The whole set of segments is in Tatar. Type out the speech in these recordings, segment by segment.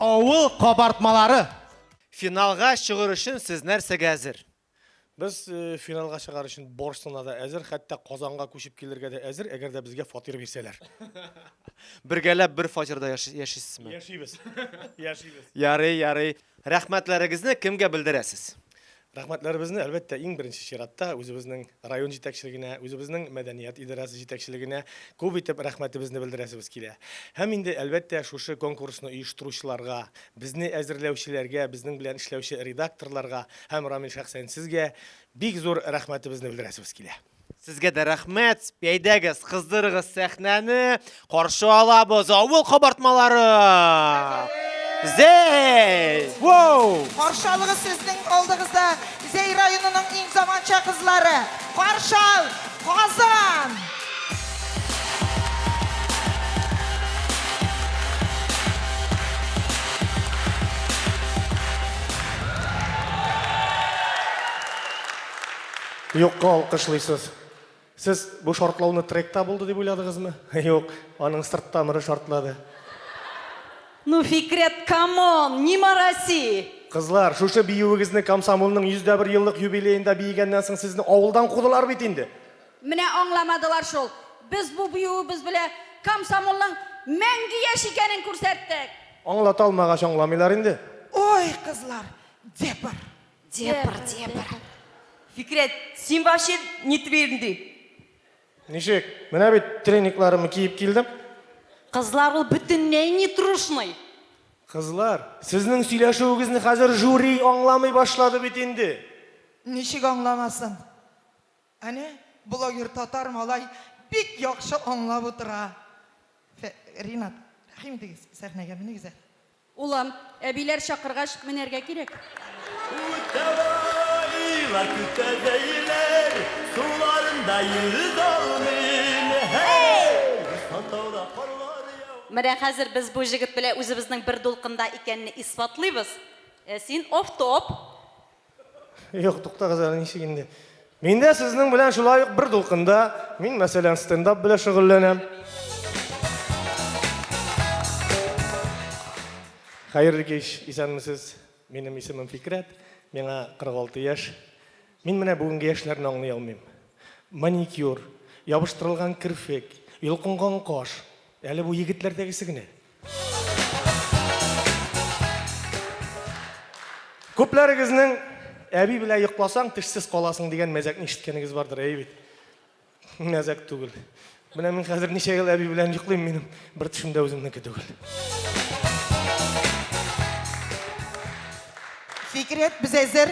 Авыл кабартмалары. Финалга чыгыр өчен сез нәрсәгә әзер? Без э, финалга чыгар өчен барысына да әзер, хәтта Казанга күчеп килергә дә әзер, әгәр дә безгә фатир бирсәләр. Бергәләп бер фатирда яшисезме? Яшибез. Яшибез. Ярый, ярый. Рәхмәтләрегезне кемгә белдерәсез? Рәхмәтләребезне, әлбәттә, иң беренче чиратта үзебезнең район җитәкчелегенә, үзебезнең мәдәният идарәсе җитәкчелегенә күп итеп рәхмәтебезне белдерәсебез килә. Һәм инде, әлбәттә, шушы конкурсны оештыручыларга, безне әзерләүчеләргә, безнең белән эшләүче редакторларга һәм, Рамил, шәхсән сезгә бик зур рәхмәтебезне белдерәсебез килә. Сезгә дә рәхмәт, пәйдәгез, кыздырыгыз сәхнәне, каршы алабыз авыл кабартмалары! Зәй! Воу! Каршы алыгыз сезнең алдыгызда Зәй районының иң заманча кызлары! Каршы ал! Казан! Юкка алкышлыйсыз. Сез бу шартлауны тректа булды дип уйладыгызмы? Юк, аның сырт тамыры шартлады. Ну, Фикрет, камон, не морози! Кызлар, шушы биюегезне комсомолның 101 еллык юбилеенда биегәннән соң сезне авылдан кудылар бит инде. Менә аңламадылар шул. Без бу биюебез белән комсомолның мәңге яшь икәнен күрсәттек. Аңлата алмагач аңламыйлар инде. Ой, кызлар, дебр. Дебр, дебр. Фикрәт, син вообще не твердый. Ничек? Менә бит треникларымны киеп килдем. Кызлар ул бөтенләй не трушный. Кызлар, сезнең сөйләшүегезне хәзер жюри аңламый башлады бит инде. Ничек аңламасын? Әнә, блогер татар малай бик яхшы аңлап утыра. Фә, Ринат, рәхим итегез, сәхнәгә менегез әле. Улым, әбиләр чакыргач, менәргә кирәк. Үтәбайлар көтәбәйләр суларында йөз алмыйм, һәй! Сан тауда карлар яу. Менә хәзер без бу җегет белән үзебезнең бер дулкында икәнне исбатлыйбыз. Син офтоп. Юк, туктагыз әле, ничек инде. Мин дә сезнең белән шулай ук бер дулкында. Мин, мәсәлән, стендап белән шөгыльләнәм. Хәерле кич, исәнмесез. Минем исемем Фикрәт, миңа 46 яшь. Мин менә бүгенге яшьләрне аңлый алмыйм. Маникюр, ябыштырылган керфек, йолкынган каш. Әле бу егетләрдәгесе генә. Күпләрегезнең әби белән йокласаң, тешсез каласың дигән мәзәкне ишеткәнегез бардыр, әйе бит? Мәзәк түгел. Менә мин хәзер ничә ел әби белән йоклыйм, минем бер төшем дә үземнеке түгел. Фикрәт, без әзер.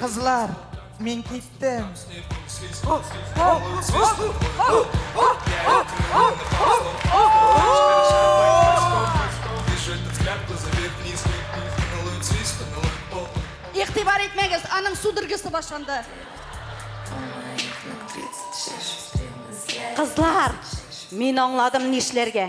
Кызлар, мин киттем. Игътибар итмәгез, аның судорогасы башланды. Кызлар, мин аңладым нишләргә.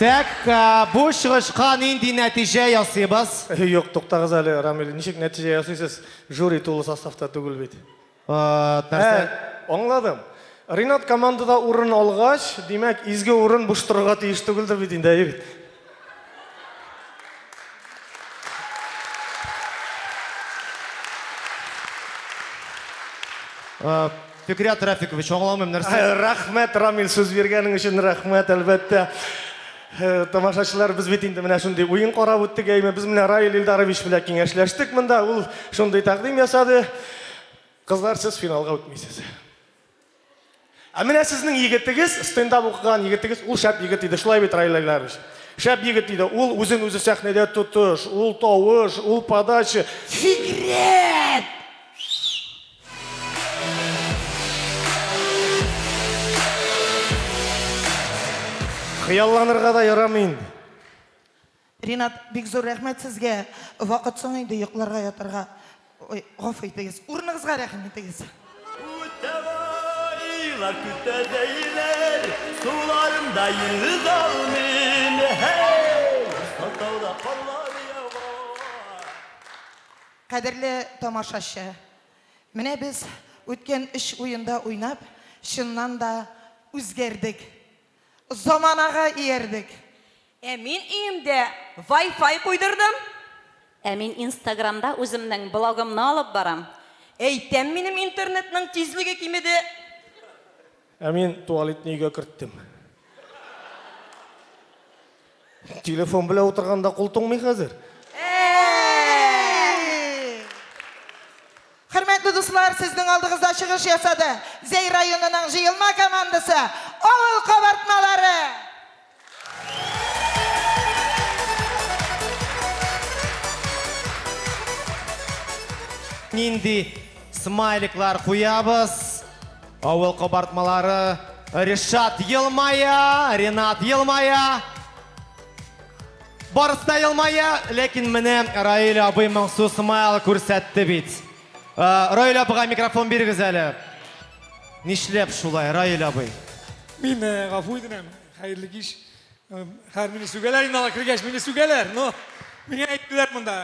Так, ә, бу чыгышка нинди нәтиҗә ясыйбыз? Э, Юк, туктагыз әле, Рамил. Ничек нәтиҗә ясыйсыз? Жюри тулы составта түгел бит. Ә, нәрсә? Ә, аңладым. Ринат командада урын алгач, димәк, изге урын буш торырга тиеш түгелдер бит инде, ә, егет? Э, Фикрят Рафикович, аңламыйм нәрсә. Э, рәхмәт, Рамил, сүз биргәнең өчен рәхмәт, әлбәттә. Э, тамашачылар, без бит инде менә шундый уен карап үттек, әйме, без менә Раил Илдарович белән киңәшләштек монда, ул шундый тәкъдим ясады. Кызлар, сез финалга үтмисез. Ә менә сезнең егетегез, стендап укыган егетегез, ул шәп егет иде, шулай бит, Раил Айларович? Шәп егет иде, ул үзен үзе сәхнәдә тотыш, ул тавыш, ул подача. Сигарет! Хыялланырга да ярамый инде. Ринат, бик зур рәхмәт сезгә! Вакыт соң инде йокларга ятарга. Ой, гафу итегез. Урыныгызга рәхим итегез. Үтәвайлар көтә дәйләр, суларымда йөз алмыйм, һәй! Узган тауда карлар ява. Кадерле тамашачы, менә без үткән өч уенда уйнап, чыннан да үзгәрдек. Заманага иярдек. Ә мин өемдә вай-фай куйдырдым. Ә мин инстаграмда үземнең блогымны алып барам. Әйтәм, минем интернетның тизлеге кимеде. Ә мин туалетны өйгә керттем. Телефон белән утырганда кул туңмый хәзер. Хөрмәтле дуслар, сезнең алдыгызда чыгыш ясады. Зәй районының җыелма командасы Авыл кабартмалары. Нинди Смайликлар куябыз. Авыл кабартмалары. Ришат елмая, Ренат елмая. Барысы да елмая, ләкин менә Раил абый моңсу смайл күрсәтте бит. Э, Раил абыга микрофон бирегез әле. Нишләп шулай, Раил абый? Мин э, гафу итәм, хәерле кич. Э, Хәр мине сүгәләр инде алар кергәч, мине сүгәләр. Но миңа әйттеләр монда.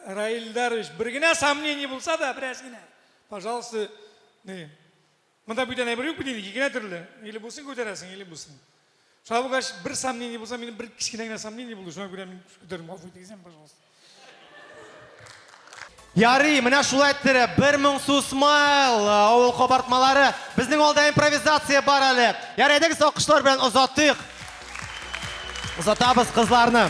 Раилдарович, бер генә сомнение булса да, бераз генә. Пожалуйста, не. Монда бүтән әйбер юк бит инде, ике генә төрле. Или бусын күтәрәсең, или бусын. Шуңа булгач, бер сомнение булса, минем бер кечкенә генә сомнение булды, шуңа күрә мин күтәрдем. Гафу итегез, пожалуйста. Ярый, менә шулай тире, бер моң сусмайл, авыл кабартмалары. Безнең алда импровизация бар әле. Ярый, әйдәгез акышлар белән озатыйк. Озатабыз кызларны.